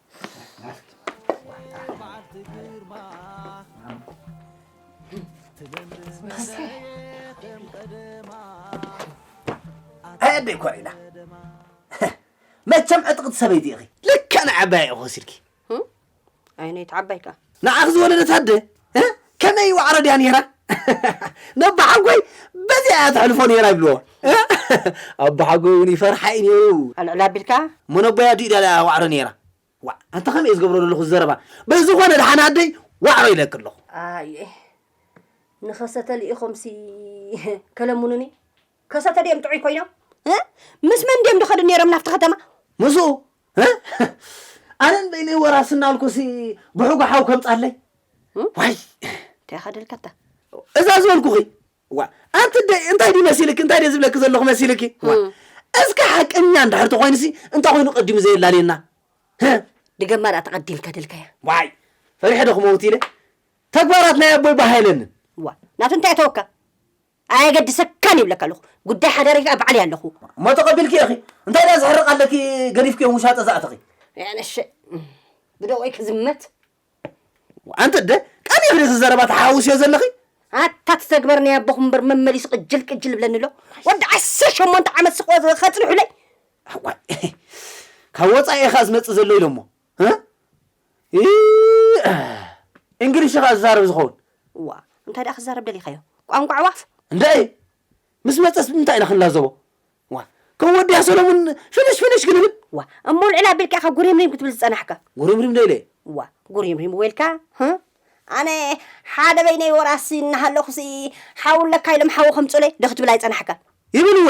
S1: ኣደይ ኮሪና መቸም ዕጥቕቲ ሰበይቲ ኢኺ ልክዕ ንዓባይ ኢኹ ወሲድኪ
S5: ኣይነይቲ ዓባይ ከ ንዓኺ ዝወለደት
S1: ኣደ ከመይ ዋዕሮ ድያ ነይራ ነቦሓጎይ በዚኣ እያ ተሕልፎ ነይራ ይብልዎ ኣቦሓጎይ እውን ይፈርሓ እዩ ነይሩ ኣልዕል ኣቢልካ
S5: እሞ ነቦይ ኣዲኡ ድያ ድኣ
S1: ዋዕሮ ነይራ ዋዕ ኣንታ ከመይ እየ ዝገብሮ ዘለኹ ዘረባ በዝኾነ ድሓን ኣደይ ዋዕሮ ኢለኪ ኣለኹ ኣየ
S5: ንኸሰተሊ ኢኹምሲ ከለሙኑኒ ከሰተ ድዮም ጥዑይ ኮይኖም እ? ምስ መን ድዮም ድኸዱ ነይሮም ናብቲ ከተማ? ምስኡ እ?
S1: ኣነ ንበይነይ ወራስ እናልኩሲ ብሑጎ ሓው ከምጻለይ ዋይ እንታይ ኢኻ
S5: ደልካታ? እዛ ዝበልኩኺ
S1: ዋ ኣንቲ ደይ እንታይ ድዩ መሲልኪ እንታይ ድየ ዝብለኪ ዘለኹ መሲልኪ ዋ እም። እስከ ሓቀኛ እንድሕር ተኾይንሲ እንታይ ኮይኑ ቀዲሙ ዘየላልየና ህ
S5: ድገማ ድኣ ተቐዲምካ ደልካያ ዋይ ፈሪሐ
S1: ዶ ክመውት ኢለ ተግባራት ናይ ኣቦይ ባህ ኣይለንን ዋ ናቱ እንታይ
S5: እተወካ ኣየገድሰካን ይብለካ ኣለኹ ጉዳይ ሓዳረይ ከኣ ባዕለይ ኣለኹ። እሞ ተቐቢልኪ ኢኺ
S1: እንታይ ድኣ ዝሕርቕ ኣለኪ ገዲፍክዮም ውሻጠ ዘኣተኺ። ያነሸ
S5: ብደቆይ ክዝመት።
S1: ኣንቲ ኣደ ቀኒኺ ዲኺ ዘረባ ተሓዋውስዮ ዘለኺ። ኣታ ትተግበር
S5: ናይ ኣቦኹም እምበር መመሊሱ ቅጅል ቅጅል ይብለኒ ኣሎ ወዲ ዓሰርተ ሸሞንተ ዓመት ስቕ ከጽንሑለይ። ኣዋይ
S1: ካብ ወጻኢ ኢኻ ዝመጽእ ዘሎ ኢሎሞ። እንግሊሽ ኸኣ ዝዛረብ ዝኸውን። እዋ እንታይ ደኣ
S5: ክዛረብ ደሊኻዮ ቋንቋ ኣዕዋፍ። እንድዒ
S1: ምስ መጸስ ብምንታይ ኢና ክንላዘቦ እዋ ከም ወዲያ ሰለሙን ፍንሽ ፍንሽ ክንብል። እዋ እሞ ልዕል ኣቢልካ
S5: ኢኻ ጉሪምሪም ክትብል ዝጸናሕካ። ጉሪምሪም ዶ ኢለ። እዋ
S1: ጉሪምሪም እወ
S5: ኢልካ ህ። ኣነ ሓደ በይነይ ወራሲ እናሃለኹሲ ሓው ኣለካ ኢሎም ሓዊ ከምጽኡለይ ዶ ክትብል ኣይጸናሕካን። ይብል እወ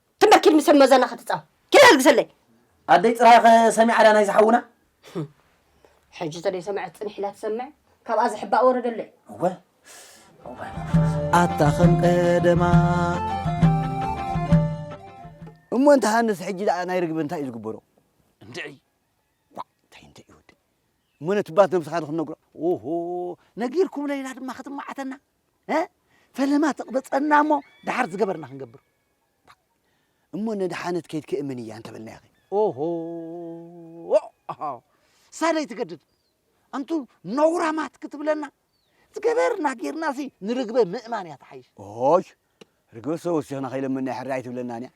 S5: ትንበር ኪድ ምሰብ መዘና ክትጻወት ኪድ ኣልግሰለይ። ኣደይ ጥራይኸ
S1: ሰሚዓ ድያ ናይዚ ሓውና? ህም
S5: ሕጂ ተደይሰመዐት ጽኒሕ ኢላ ትሰምዕ ካብኣ ዝሕባእ ወረ ደሎ እዩ። እወ እዋይ መንፈስ።
S7: ኣታ ከም ቀደማ።
S2: እሞ እንተ ሃንስ ሕጂ ደኣ ናይ ርግበ እንታይ እዩ ዝግበሮ? እንድዒ
S1: ዋእ እንታይ
S2: እንድዒ ወዲ እሞ ነቲ ባት ነብስኻ ዶ ክንነግሮ? ኦሆ ነጊርኩም ለይላ ድማ ክትማዓተና እ ፈለማ ትቕበጸና እሞ ደሓር ዝገበርና ክንገብር እሞ ነድሓነት ከይት ክእምን እያ እንተበልናያኸ? ኦሆ ኣሃ ሳለይ ትገድድ ኣንቱ ነውራማት ክትብለና ዝገበርና ጌርናሲ ንርግበ ምእማን እያ ትሓይሽ። ኦይ ርግበ ሰወሲኽና ከይለመንና ሕራይ ኣይትብለናን እያ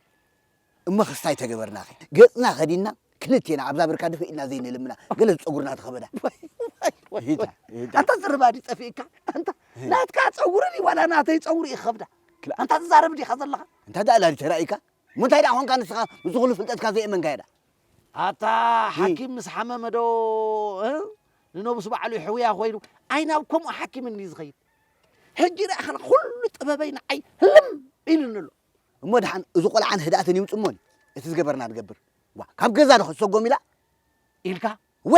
S2: እሞ ክስታይ ተገበርናኸ ገጽና ከዲና ክልቴና ኣብዛ ብርካ ድፍእ ኢልና ዘይንልምና ገለ ዝጸጉርና ተኸበዳ ሂታ
S3: ሂታ ኣንታ ዝርባ ድዩ ጠፊእካ ኣንታ ናትካ ጸጉሪ ድዩ ዋላ ናተይ ጸጉሪ እዩ ክኸብዳ ክላ- ኣንታ ትዛረብ ዲኻ ዘለኻ እንታይ ደኣ ላሊ ተራእይካ
S2: ምንታይ ደኣ ኾንካ ንስኻ ምስ ኹሉ ፍልጠትካ ዘየእመንካዮ ደኣ ኣታ
S3: ሓኪም ምስ ሓመመ ዶ እ? ንነብሱ ባዕሉ ይሕውያ ኮይኑ ኣይ ናብ ከምኡ ሓኪም እንዲ ዝኸይድ ሕጂ ረኣኸ ኩሉ ጥበበይ ንዓይ ህልም ኢሉኒ ኣሎ እሞ ደሓን እዚ
S2: ቆልዓን ህድኣትን ይምጽእ እሞኒ እቲ ዝገበርና ንገብር ዋእ ካብ ገዛ ዶ ክትሰጎም ኢላ ኢልካ
S3: ወ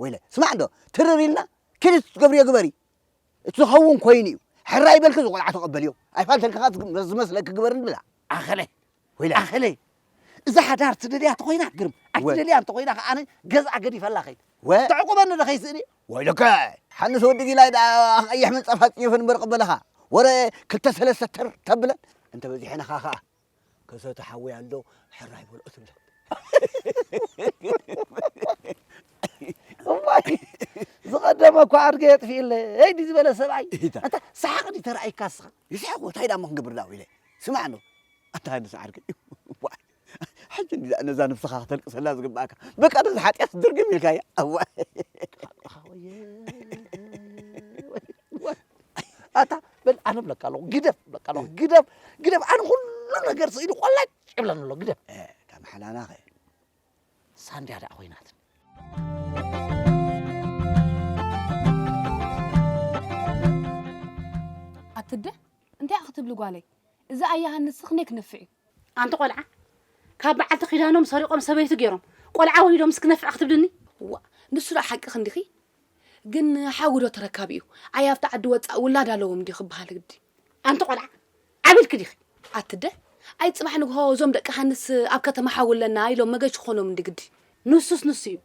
S3: ወይለ
S2: ስማዕ እንዶ ትርር ኢልና ኪዲ እቲ ትገብርዮ ግበሪ እቲ ዝኸውን ኮይኑ እዩ ሕራይ በልኪ እዚ ቆልዓ ተቐበልዮ ኣይፋልተን ከኻ እቲ ዝመስለኪ ግበሪ ንብላ ኣኸለ
S3: ወይለ ኣኸለ
S2: እዛ
S3: ሓዳር ትደልያ ተኾይና ግርም ኣይትደልያ እንተኾይና ከ ኣነ ገዝኣ ገዲፈላ ከይድ ወ ተዕቁበኒ ዶ ከይስእኒ ወይለከ
S2: ሓንስ ወዲ ጊላይ ደኣ ቀይሕ ምንጻፍ ኣጽዩፍን ብርቕ በለኻ ወረ ክልተ ሰለስተ ተር ተብለን እንተበዚሐንኻ ከኣ ከሰተ ሓወይ ኣሎ ሕራይ በሎ ትብለን
S3: እዋይ ዝቐደመ እኳ ኣድገ የጥፊእለይ ዲ ዝበለ ሰብኣይ እንታ ሰሓቕ ዲ ተራእይካ ስኻ ይስሕቕ ወታይ ዳሞ ክንገብር
S2: ዳዊ ኢለ ስማዕ ዶ ኣታ ንሰዓር ግን እዋይ ሕጂ እንዲ ነዛ ነብስኻ ከተልቅሰላ ዝግባእካ በቃ ነዚ ሓጢኣት ድርግም ኢልካያ እዋይ
S3: ኣታ በል ኣነ ብለካ ኣለኹ ግደፍ ብለካ ኣለኹ ግደፍ ግደፍ ኣነ ኩሉ ነገር ስኢሉ ቆላጭ ይብለኒ ኣሎ ግደፍ ካብ ሓላላኸ ሳንድያ ደኣ ኮይናትኒ
S6: ኣትደ እንታይ ክትብሊ ጓለይ እዚ ኣያሃ ንስኽ ክንደይ ክነፍዕ እዩ ኣንቲ ቆልዓ
S5: ካብ በዓልቲ ኪዳኖም ሰሪቆም ሰበይቲ ገይሮም ቆልዓ ወሊዶም ምስ ክነፍዕ ክትብልኒ እዋእ ንሱ ደኣ
S6: ሓቂ ክንዲኺ ግን ሓዊ ዶ ተረካቢ እዩ ኣይ ኣብቲ ዓዲ ወጻእ ውላድ ኣለዎም ድዩ ክበሃል ግዲ ኣንቲ ቆልዓ
S5: ዓቢልኪ ዲኺ ኣቲ ኣደ
S6: ኣይ ጽባሕ ንግሆ እዞም ደቂ ሃንስ ኣብ ከተማ ሓዊ ኣለና ኢሎም መገሽ ክኾኖም እንዲ ግዲ ንሱስ ንሱ እዩ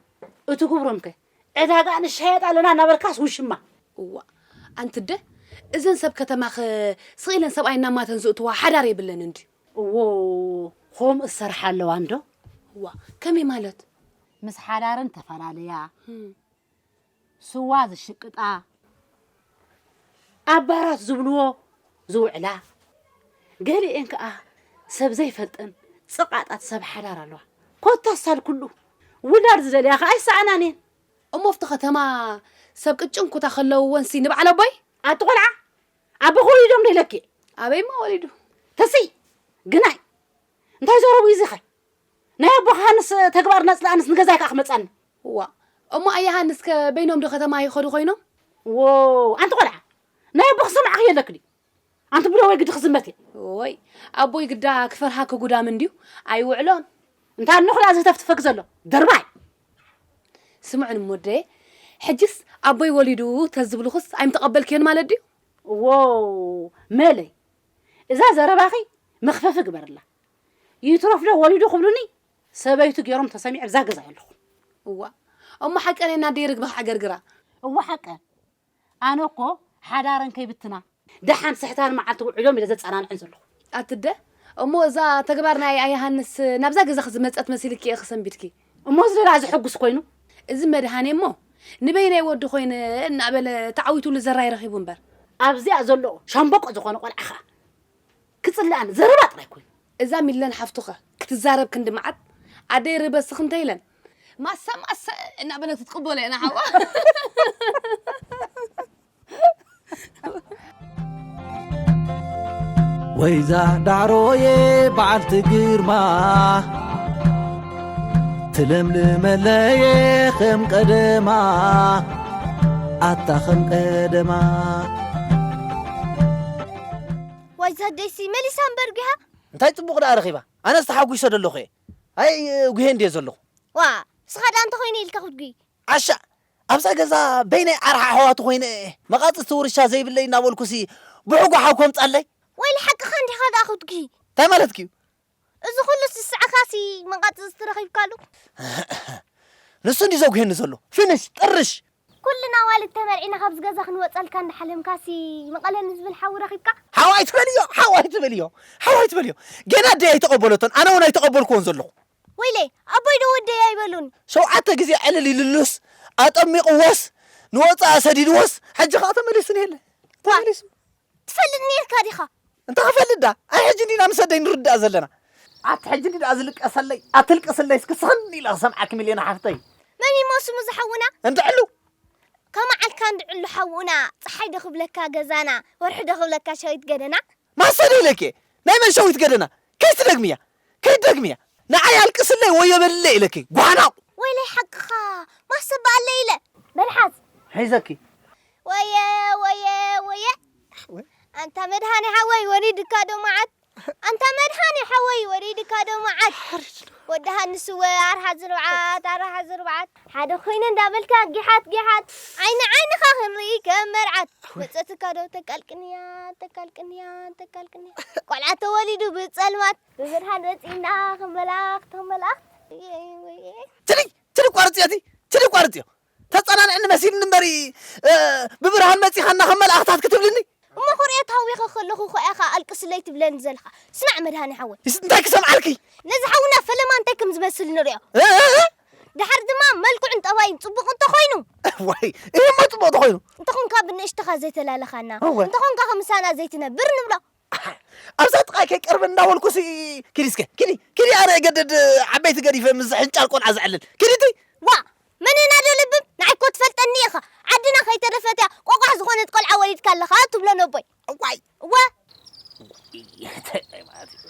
S5: እቲ ክብሮም ከ ዕዳጋ ንሻየጥ ኣለና እናበልካስ ውሽማ። እዋእ
S6: ኣንትደ እዘን ሰብ ከተማኸ ስቅ ኢለን ሰብኣይ እናማተን ዝእትዋ ሓዳር የብለንን ድዩ። እዎ
S5: ኾምኡ ዝሰርሓ ኣለዋ እንዶ። እዋ ከመይ
S6: ማለት? ምስ ሓዳረን
S5: ተፈላለያ ስዋ ዝሽቅጣ። ኣባራት ዝብልዎ ዝውዕላ፣ ገሊኤን ከኣ ሰብ ዘይፈልጠን ጽቓጣት ሰብ ሓዳር ኣለዋ። ኮታ ሳል ኩሉ ውላድ ዝደልያ ከኣ ኣይሰኣናን እየን። እሞ ኣብቲ
S6: ከተማ ሰብ ቅጭን ኩታ ከለውወንሲ ንበዓል ኣቦይ? ኣቲ ቆልዓ
S5: ኣቦኺ ወሊዶምዶ ኢለኪ? ኣበይማ ወሊዱ?
S6: ተስይ!
S5: ግናይ! እንታይ ዘረቡ እዩ እዚኸ ናይ ኣቦኻ ሃንስ ተግባር ነጽላ ኣንስ ንገዛይ ከኣ ክመጻኒ ዋእ እሞ
S6: ኣያ ሃንስ ከ በይኖም ዶ ከተማ ይኸዱ ኮይኖም ዎው ኣንቲ
S5: ቆልዓ ናይ ኣቦኺ ሰማዕኺ የለኪ ድዩ ኣንቲ ብደወይ ግዲ ክዝመት እየ ወይ ኣቦይ
S6: ግዳ ክፈርሃ ክጉዳም እንድዩ ኣይውዕሎን እንታይ ኣኖኽላ
S5: ዘተፍትፈክ ዘሎ ደርባይ
S6: ስምዑን ሞደየ ሕጅስ ኣቦይ ወሊዱ ተዝብልኹስ ኣይምተቐበልክዮን ማለት ድዩ ዎው መለይ
S5: እዛ ዘረባኺ መኽፈፊ ግበርላ ይትረፍ ዶ ወሊዱ ክብሉኒ ሰበይቱ ገይሮም ተሰሚዐ ኣብዛ ገዛ የለኹን እዋ እሞ ሓቀን
S6: የና ደይ ርግቢ ክዓገርግራ እዋ ሓቀን
S5: ኣነ እኮ ሓዳረን ከይብትና ደሓን ስሕታን መዓልቲ ውዕሎም ኢለ ዘጸናንዐን ዘለኹ ኣትደ
S6: እሞ እዛ ተግባር ናይ ኣያሃንስ ናብዛ ገዛ ክዝመጸት መሲልኪ እየ ክሰንቢድኪ እሞ እዚ ደኣ ዘሐጉስ
S5: ኮይኑ እዚ መድሃኔ
S6: እሞ ንበይነይ ወዲ ኮይነ እናበለ ተዓዊቱሉ ዘራይ ረኺቡ እምበር። ኣብዚኣ ዘሎ
S5: ሻምበቆ ዝኾነ ቆልዓ ከኣ ክጽልኣኒ ዘረባ ጥራይ ኮይኑ። እዛ ሚለን ሓፍቱ'ኸ
S6: ክትዛረብ ክንዲ መዓት ኣደይ ርህበ ስኽ እንተ ኢለን። ማሰ ማሰ እናበለት ክትቅበሎ ኢና ሓዋ።
S7: ወይዛ ዳዕሮየ በዓልቲ ግርማ ትለምልመለየ ኸም ቀደማ ኣታ ኸም ቀደማ
S4: ዋይዛ ደይሲ መሊሳ እምበር ጒሃ እንታይ ፅቡቕ ደኣ
S1: ረኺባ ኣነ ዝተሓጒሶ ደለኹ እየ ኣይ ጉሄ እንድየ ዘለኹ ዋ ንስኻ ደኣ
S4: እንተኾይኑ ኢልካ ክትጉይ ዓሻ
S1: ኣብዛ ገዛ በይነይ ዓርሓ ኣሕዋቱ ኮይነ እየ መቓጽስቲ ውርሻ ዘይብለይ እናበልኩሲ ብሕጉ ሓው ከምጻለይ። ወይሊ ሓቅኻ
S4: እንዲኻ ደኣ ኩትኪ። እንታይ ማለትኪ'ዩ?
S1: እዚ
S4: ኩሉ ስስዐካሲ መቓጽስቲ ረኺብካሉ?
S1: ንሱ እንድዩ ዘጉህየኒ ዘሎ። ፍንሽ ጥርሽ! ኩልና ኣዋልድ
S4: ተመርዒና ካብዚ ገዛ ክንወጸልካ እንዳሓለምካሲ መቐለ ንዝብል ሓዊ ረኺብካ? ሓው ኣይትበልዮ!
S1: ሓው ኣይትበልዮ! ሓው ኣይትበልዮ! ገና ኣደይ ኣይተቐበለቶን ኣነ እውን ኣይተቐበልክዎን ዘለኹ። ወይለይ ኣቦይ
S4: ዶ ወደይ ኣይበሉን። ሸውዓተ ግዜ
S1: ዕልል ኢልሉስ ኣጠሚቕዎስ ንወጻኢ ሰዲድዎስ ሕጂ ከኣ ተመሊሱ እኒሀለ ተመሊሱ። ትፈልጥ
S4: ኔርካ
S1: ዲኻ? እንታይ ክፈልጥ ድኣ ኣይ ሕጂ እንዲና ምስ
S4: ኣደይ
S1: ንርዳእ ዘለና። ኣቲ ሕጂ እንዲዩ ድኣ ዝልቀሰለይ ኣትልቅስለይ እስኪ ስኽን ኢለ ክሰምዓኪ ሚልዮን ሓፍተይ። መን እዩሞ ስሙ
S4: ዝሓውና? እንድ ዕሉ።
S1: ከመዓልካ
S4: እንድ ዕሉ ሓውና ጸሓይ ዶ ክብለካ ገዛና ወርሒ ዶ ክብለካ ሸዊት ገደና። ማሰ ዶ ኢለኪ
S1: እየ ናይ መን ሸዊት ገደና ከይትደግምያ። ከይትደግምያ ንዓይ ኣልቅስለይ ወዮ በልለይ ኢለኪ ጓናቁ። ወይለይ ሓቅኻ
S4: ማሰ በኣለይ ኢለ። መልሓስ ሒዘኪ።
S1: ወየ ወየ
S4: ወየ ኣንታ መድሃኔ ሓወይ ወሪድካ ዶ መዓት ኣንታ መድሃኔ ሓወይ ወሪድካ ዶ መዓት ወዲ ሃንስወ ኣርሓ ዝርብዓት ኣርሓ ዝርብዓት ሓደ ኮይነ እንዳበልካ ጊሓት ጊሓት ዓይኒ ዓይንኻ ክንርኢ ከም መርዓት መጸትካ ዶ ተቃልቅንያ ተቃልቅንያ ተቃልቅንያ ቆልዓ ተወሊዱ ብጸልማት ብብርሃን ወጺእና ከም መላእኽት ከም መላእኽት
S1: ትዲ ትዲ ቋርጽዮ እቲ ትዲ ቋርጽዮ ተጸናንዕኒ መሲልኒ እምበሪ ብብርሃን መጺኻና ከም መላእኽታት ክትብልኒ እሞ ኩርኤ ታዊኸ
S4: ከለኹ እኮ ኢኻ ኣልቅስለይ ትብለኒ ዘለኻ ስማዕ መድሃኒ ሓወይ እንታይ ክሰምዓልኪ
S1: ነዚ ሓውና ፈለማ
S4: እንታይ ከም ዝመስል ንሪኦ ድሓር ድማ መልክዑን ጠባዩን ጽቡቕ እንተ ኾይኑ። እዋይ! እሂ እሞ
S1: ጽቡቕ እንተ ኾይኑ። እንተ ኾንካ ብንእሽትኻ
S4: ዘይተላለኻና፣ እወ። እንተ ኾንካኸ ምሳና ዘይትነብር ንብሎ። ኣሕ! ኣብዛ
S1: ጥቓይ ከይቀርብ እንዳ በልኩሲ ኪዲ እስከ ኪዲ ኪዲ ኣነ እገድድ ዓበይቲ ገዲፈ ምስዚ ሕንጫል ቆልዓ ዘዕልል ኪዲ ትይ! ዋእ! መን
S4: እና ዶ ለብም ንዓይ እኮ ትፈልጠኒ ኢኻ። ዓድና ከይተረፈት እያ ቆቋሕ ዝኾነት ቆልዓ ወሊድካ ኣለኻ ትብሎ ነቦይ። እዋይ! እወ።
S1: እዋይ! እንታይ ማለት እዩ?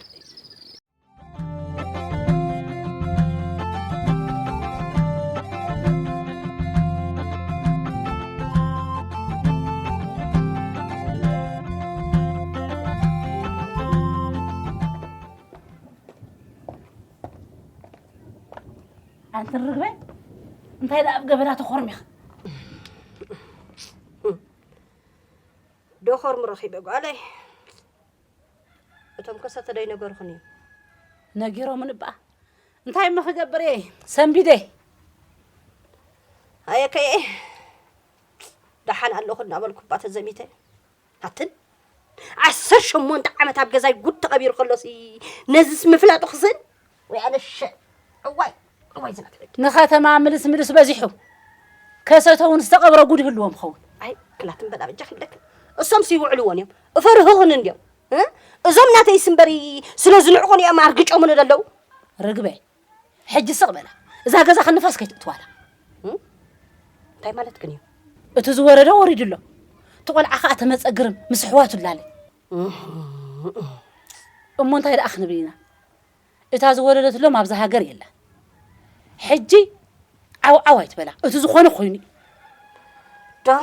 S6: ኣንቲ ርግበ እንታይ ደኣ ኣብ ገበና ተኾርሚኻ
S5: ዶኾርሙ ረኺበ ጓለይ እቶም ከሰተ ዶ ኣይነገርኹን እዩ። ነጊሮምን
S6: እባ እንታይ እሞ ክገብር እየ ሰንቢደ
S5: ኣየከየ ደሓን ኣለኹ እናበልኩ እባ ተዘሚተ ኣትን ዓሰርተ ሸሞንተ ዓመት ኣብ ገዛይ ጉድ ተቐቢሩ ከሎሲ ነዚስ ምፍላጡ ክስን ንከተማ ምልስ
S6: ምልስ በዚሑ ከሰተውን ዝተቐብረ ጉድ ይህልዎም ኸውን ክላትን በላ
S5: በጃ ክብለክን እሶም ሲውዕልዎን እዮም እፈርህኹን እንዲዮም እዞም ናተይ ስምበሪ ስለ ዝንዕቑን እዮም ኣርግጮምን ዘለዉ ርግበ
S6: ሕጂ ስቕ በላ እዛ ገዛ ክንፋስ ከይትእትዋላ እንታይ
S5: ማለት ግን እዩ እቲ ዝወረደ
S6: ወሪዱ ኣሎ እቲ ቆልዓ ከዓ ተመፀግርም ምስ ኣሕዋቱ ላለ እሞ እንታይ ደኣ ክንብል ኢና እታ ዝወለደትሎም ኣብዛ ሃገር የላን ሕጂ ዓው ዓው ኣይትበላ እቲ ዝኾነ ኮይኑ እዩ።
S5: ዶ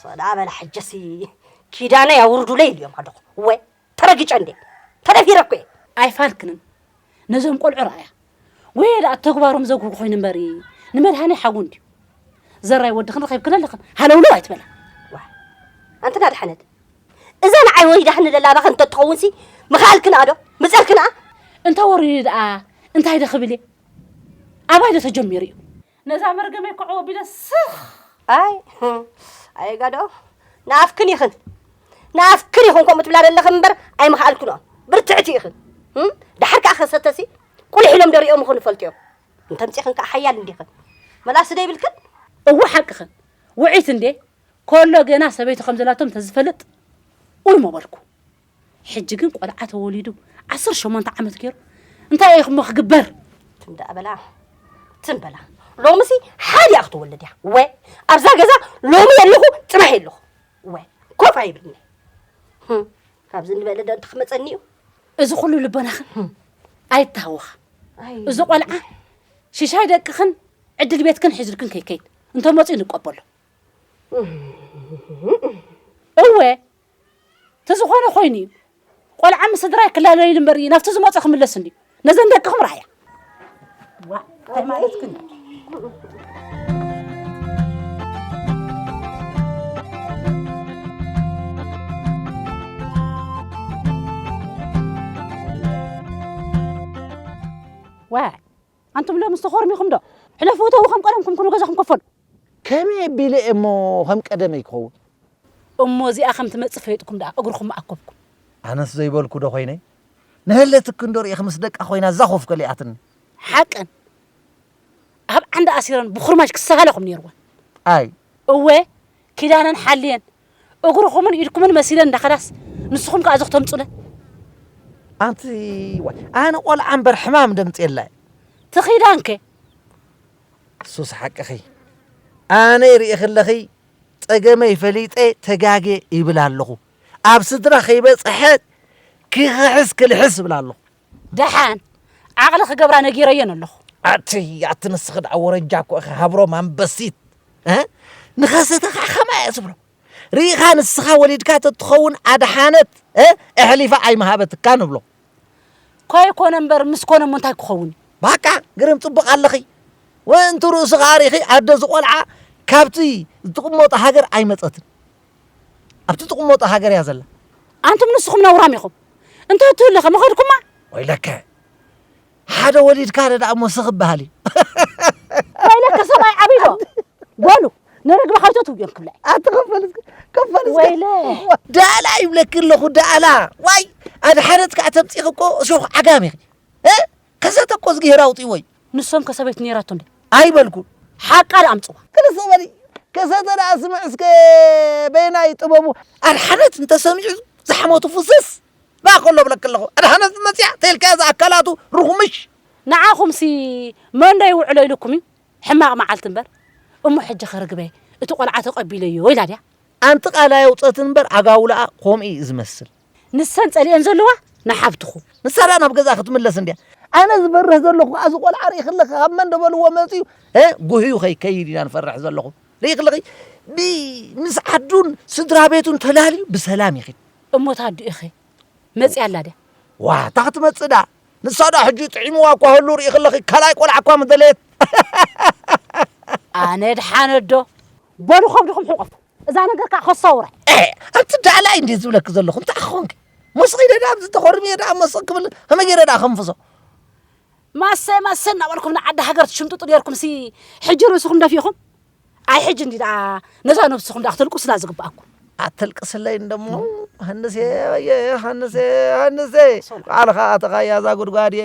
S5: ሰላም በላ ሕጂሲ ኪዳነይ ኣውርዱለይ ኢልዮም ኣለኹ እወ ተረጊጨ እንዴ ተደፊረ እኮ እየ። ኣይፋልክንን
S6: ነዞም ቆልዑ ረኣያ ወየ ደኣ ተግባሮም ዘጉህጉ ኮይኑ እምበሪ ንመድሃኔ ሓዉ እንድዩ ዘራይ ወድኽን ረኺብክን ኣለኽን ሃለውለው ኣይትበላ። ዋ
S5: ኣንቲ ናድሓነት እዛ ንዓይ ወሪዳትኒ ዘላ ኣባኺ እንተትኸውንሲ ምኸኣልክንኣ ዶ ምጸርክንኣ? እንተ ወሪዱ
S6: ደኣ እንታይ ዶ ክብል እየ? ኣባይ ዶ ተጀሚሩ እዩ? ነዛ መርገመይ ኮዕ ወቢለ ስኽ! ኣይ
S5: ኣየጋድኦ ንኣፍክን ኢኽን ንኣፍክን ኢኹን ከምኡ ትብላ ዘለኽን እምበር ኣይምኸኣልክንኦ ብርትዕቲ ኢኽን ደሓር ከኣ ከሰተሲ ቁልሕ ኢሎም ዶ ሪኦም ይኹን እፈልጥዮም እንተምጺኽን ከኣ ሓያል እንዲኽን መላሲ ዶ ይብልክን እወ ሓቅኽን
S6: ውዒት እንዴ ኮሎ ገና ሰበይቱ ከም ዘላቶም ተዝፈልጥ ኡን መበልኩ ሕጂ ግን ቆልዓ ተወሊዱ ዓሰርተ ሸሞንተ ዓመት ገይሩ እንታይ እየ ክሞ ክግበር ትም ደኣ በላ
S5: ትም በላ ሎምሲ ሓዲኣ ክትወልድ እያ ወ ኣብዛ ገዛ ሎሚ የለኹ ፅባሕ የለኹ ወ ኮፍ ኣይብልኒ ካብዚ ንበለ ዶ ክመፀኒ እዩ እዚ ኩሉ
S6: ልቦናኽን ኣይታወኻ እዚ ቆልዓ ሽሻይ ደቅኽን ዕድል ቤትክን ሒዙልክን ከይከይድ እንተመፅኡ ንቀበሎ እወ ተዝኾነ ኮይኑ እዩ ቆልዓ ምስ ስድራይ ክላለዩ እምበር እዩ ናብቲ ዝመፁ ክምለስ እንድዩ ነዘን ደቅኹም ረኣያ ዋ እንታይ ማለት ግን ዋ ኣንቱም ሎምስ ተኾርሚኹም ዶ? ሕለፉ እተዉ ከም ቀደምኩም ኩኑ ገዛኹም ከፈሉ። ከመይ
S3: ኣቢለ እየ እሞ ከም ቀደመይ ክኸውን? እሞ
S6: እዚኣ ከም ትመጽእ ፈሊጥኩም ደኣ እግርኹም ኣከብኩም። ኣነስ ዘይበልኩ
S7: ዶ ኮይነ? ንሀለ ትክ እንዶ ርኢኺ ምስ ደቃ ኮይና እዛ ኮፍ ከሊኣትኒ። ሓቀን
S6: ኣብ ዓንዳ ኣሲረን ብኹርማጅ ክሳሃለኹም ኔርወን። ኣይ!
S7: እወ
S6: ኪዳነን ሓልየን እግርኹምን ኢድኩምን መሲለን እንዳኸዳስ ንስኹም ከኣ እዚ ክተምጹለን። ኣንቲ
S3: ዋይ ኣነ ቆልዓ እምበር ሕማም ደምጽ የላይ። ትኺዳን ከ? ሱስ ሓቅኺ ኣነይ ሪኢኺለኺ ጸገመይ ፈሊጠ ተጋጌ ይብል ኣለኹ ኣብ ስድራ ከይበጸሐ ክኽሕስ ክልሕስ ይብል ኣለኹ። ደሓን
S6: ዓቕሊ ክገብራ ነጊረየን ኣለኹ ኣቲ ኣቲ
S3: ንስኺ ደኣ ወረጃ እኮ ኢኺ ሃብሮም ኣንበሲት ንኸሰተ ከዓ ከማ እየ ዝብሎ ርኢኻ ንስኻ ወሊድካ ተትኸውን ኣድሓነት ኣሕሊፋ ኣይምሃበትካ ንብሎ ኮይኮነ
S6: እምበር ምስ ኮነ እሞ እንታይ ክኸውን እዩ ባቃ ግርም
S3: ፅቡቕ ኣለኺ ወእንቲ ርእሱ ከዓ ርኢኺ ኣደ ዝቖልዓ ካብቲ ዝትቕመጦ ሃገር ኣይመፀትን ኣብቲ ትቕመጦ ሃገር እያ ዘላ። ኣንቱም ንስኹም
S6: ነውራም ኢኹም እንተትህሉ ከ ምኸድኩማ? ወይለከ
S3: ሓደ ወሊድካ ደኣ እሞ ስኽ በሃል እዩ።
S6: ወይለከ ሰብኣይ ዓብይ ዶ በሉ ንርግቢ ሓውተት ውዮም ክብላ ኣቲ ከፈል ከፈል
S2: ወይለ
S6: ዳእላ ይብለኪ
S3: ኣለኹ ዳእላ ዋይ ኣድሓነት ከዓ ተምፂኺ እኮ እሾኽ ዓጋም ኢኺ ከሰተ እኮ እዝግሄር ኣውጺእዎ'ዩ። ንሶም ከ ሰበይቱ
S6: ኔራቶ እንድያ? ኣይበልኩን።
S3: ሓቃ ደኣ ኣምጽዋ።
S6: ክልሰ በሊ
S2: ከሰተ ደኣ ስምዕ እስከ በየናይ ጥበቡ። ኣድሓነት እንተ
S3: ሰሚዑ ዝሕመቱ ፍስስ ደኣ ከሎ እብለኪ ኣለኹ። ኣድሓነት መጺኣ ተልካያ'ዚ ኣካላቱ ርኹምሽ። ንዓኹምሲ
S6: መንዶ ይውዕሎ ኢሉኩም'ዩ ሕማቕ መዓልቲ እምበር። እሞ ሕጂ ከ ርግበይ እቲ ቆልዓ ተቐቢለዮ ኢላ ድያ? ኣንቲ ቃል
S3: ኣየውጸትን እምበር ኣጋውላኣ ኮምኡ'ዩ ዝመስል። ንሰን ጸሊኦን
S6: ዘለዋ ንሓብትኹ ንሳ ድኣ ናብ ገዛ
S3: ክትምለስ እንድያ ኣነ ዝበርህ
S2: ዘለኹ ከዓ እዚ ቆልዓ ርኢ ክለኺ ካብ መን ደበልዎ መፅዩ ጉህዩ
S3: ከይከይድ ኢና ንፈርሕ ዘለኹ ርኢ ክለኺ ምስ ዓዱን ስድራ ቤቱን ተላልዩ ብሰላም ይኽድ እሞት ኣዱ ኢኺ
S6: መፅያ ኣላ ድያ ዋ እታ ክትመፅእ
S3: ድኣ ንሳ ድኣ ሕጂ ጥዒምዋ እኳ ህሉ ርኢ ክለኺ ካልኣይ ቆልዓ እኳ ምደለየት
S6: ኣነ ድሓነዶ በሉ ከብድኹም ሕቆፉ እዛ ነገር ከዓ ከሰውረ ኣንቲ ዳላይ
S3: እንዴት ዝብለክ ዘለኹ እንታይ ክኾንክ ሞስኺ ደዳ ኣብዚ ተኾርሚየ ደኣ ሞስኺ ክብል ከመይ ገይረ ደኣ ከንፍሶ
S6: ማሰ ማሰ እናበልኩም ንዓዲ ሃገር ትሽምጥጡ ነርኩም ሲ ሕጂ ርእስኹም ደፊኹም ኣይ ሕጂ እንዲ ደኣ ነዛ ነብስኹም ደኣ ክትልቁስላ ዝግብኣኩም ኣተልቅስለይ
S3: እንደሞ ሃንሴ ወየ ሃንሴ ሃንሴ ባዕልኻ ኣተኻያ እዛ ጉድጓድ እየ